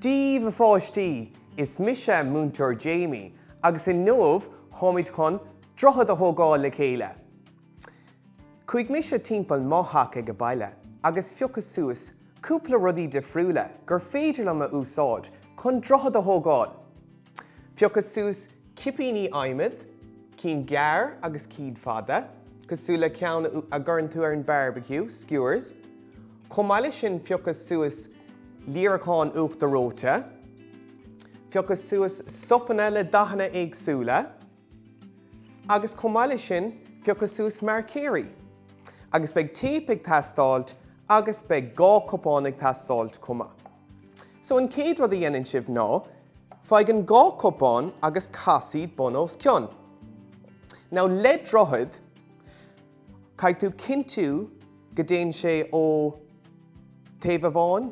Dia daoibh a pháistí, is mise Múinteoir Jamie agus inniu táimid chun droichead a thógáil le chéile. Chuaigh mise timpeall mo theach ag baile agus phiocas suas cúpla rudaí difriúla gur féidir liom a úsáid chun droichead a thógáil. Phiocas suas cipíní adhmaid, cinn gearr agus cinn fada, cosúil le ceann a gcuireann tú ar an barbeque, skewers. Chomh maith leis sin phiocas suas líreacáin uachtar reoite. Phiocas suas sopanna le dathanna éagsúla. Agus chomh maith leis sin phiocas suas marcóirí. Agus beidh téip ag teastáilt agus beidh dhá cupán ag teastáilt chomh maith. So an chéad rud a dhéanann sibh ná, faigh an dhá cupán agus cas iad bun os cionn. Now le droichead, caithfidh tú cinntiú go dtéann sé ó taobh amháin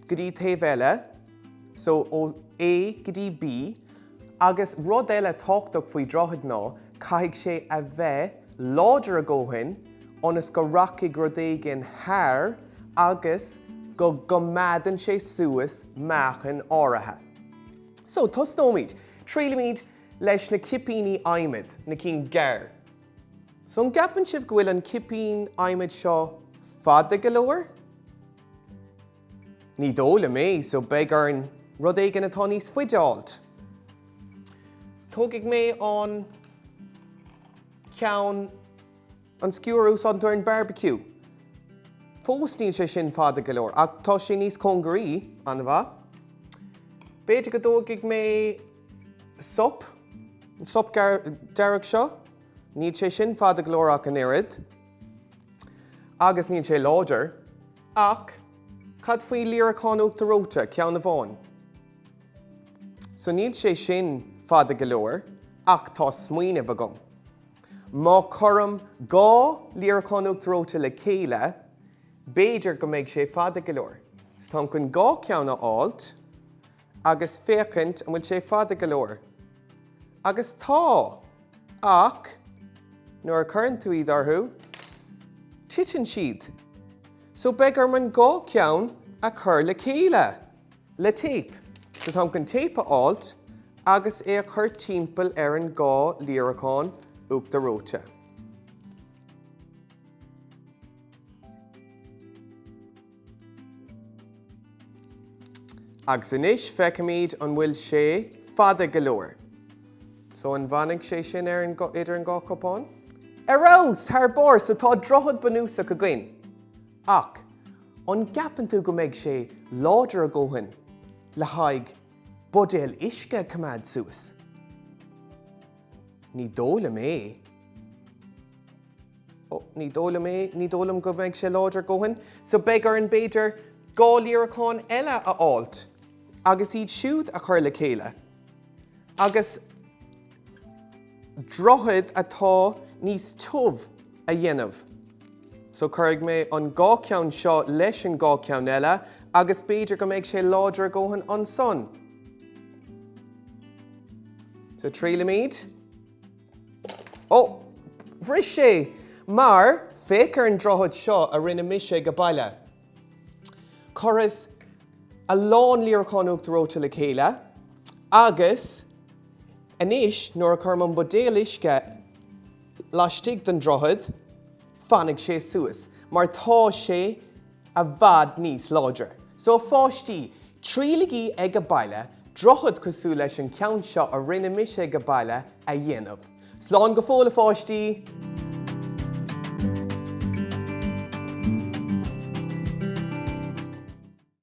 go dtí taobh eile, so ó A go dtí B. Agus rud eile tábhachtach faoi droichead ná caithfidh sé a bheith láidir a dhóthain ionas go rachaidh rud éigin thar agus go gcoimeádann sé suas meáchan áirithe. So, tosnóimid. Triailfimid leis na cipíní adhmaid, na cinn gearr. So, an gceapann sibh go bhfuil an cipín adhmaid seo fada go leor? Ní dóigh liom é, so beidh orainn rud éigin atá níos faide a fháilt. Tógfaidh mé an ceann. An skewer a úsáideann tú ar an barbecue? Fós níl sé sin fada go leor, ach tá sé níos cóngaraí, an-mhaith? B'fhéidir go dtógfaidh mé sop, an sop dearg seo, níl sé sin fada go leor ach an oiread, agus níl sé láidir. Ach cad faoi líreacán uachtar reoite, ceann amháin? So níl sé sin fada go leor, ach tá smaoineamh agam. Má cuirim dhá líreacán uachtar reoite le chéile, b'fhéidir go mbeidh sé fada go leor. So táim chun dhá cheann a fháilt. agus féachaint an bhfuil sé fada go leor. Agus tá! Ach nuair a chuireann tú iad orthu, titeann siad. So beidh orm an dhá cheann a chur le chéile, le téip. So táim chun téip a fháilt agus é a chur timpeall ar an dhá líreacán uachtar reoite. Agus anois feicfimid an bhfuil sé fada go leor. So an bhfanfaidh sé sin ar an, idir an dhá chupán? Ar fheabhas! Thar barr! So tá droichead bunúsach againn. Ach an gceapann tú go mbeidh sé láidir a dhóthain le haghaidh buidéal uisce a choimeád suas? Ní dóigh liom é. Ó, ní dóigh liom é, ní dóigh liom go mbeidh sé láidir a dhóthain. So beidh orainn, b'fhéidir, dhá líreacán eile a fháilt agus iad siúd a chur le chéile. Agus droichead atá níos tiubh a dhéanamh. So cuirfidh mé an dhá cheann seo leis an dhá cheann eile agus b'fhéidir go mbeidh sé láidir a dhóthain ansan. So triailfimid. Ó, bhris sé mar, féach ar an droichead seo a rinne mise ag a' baile. Chuireas a lán líreacán uachtar reoite le chéile agus anois nuair a chuirim an buidéal uisce laistigh den droichead, fanfaidh sé suas mar tá sé. I bhfad níos láidre. So a pháistí, triailigí ag a' baile, droichead cosúil leis an cheann seo a rinne mise ag a' baile a dhéanamh. Slán go fóill a pháistí!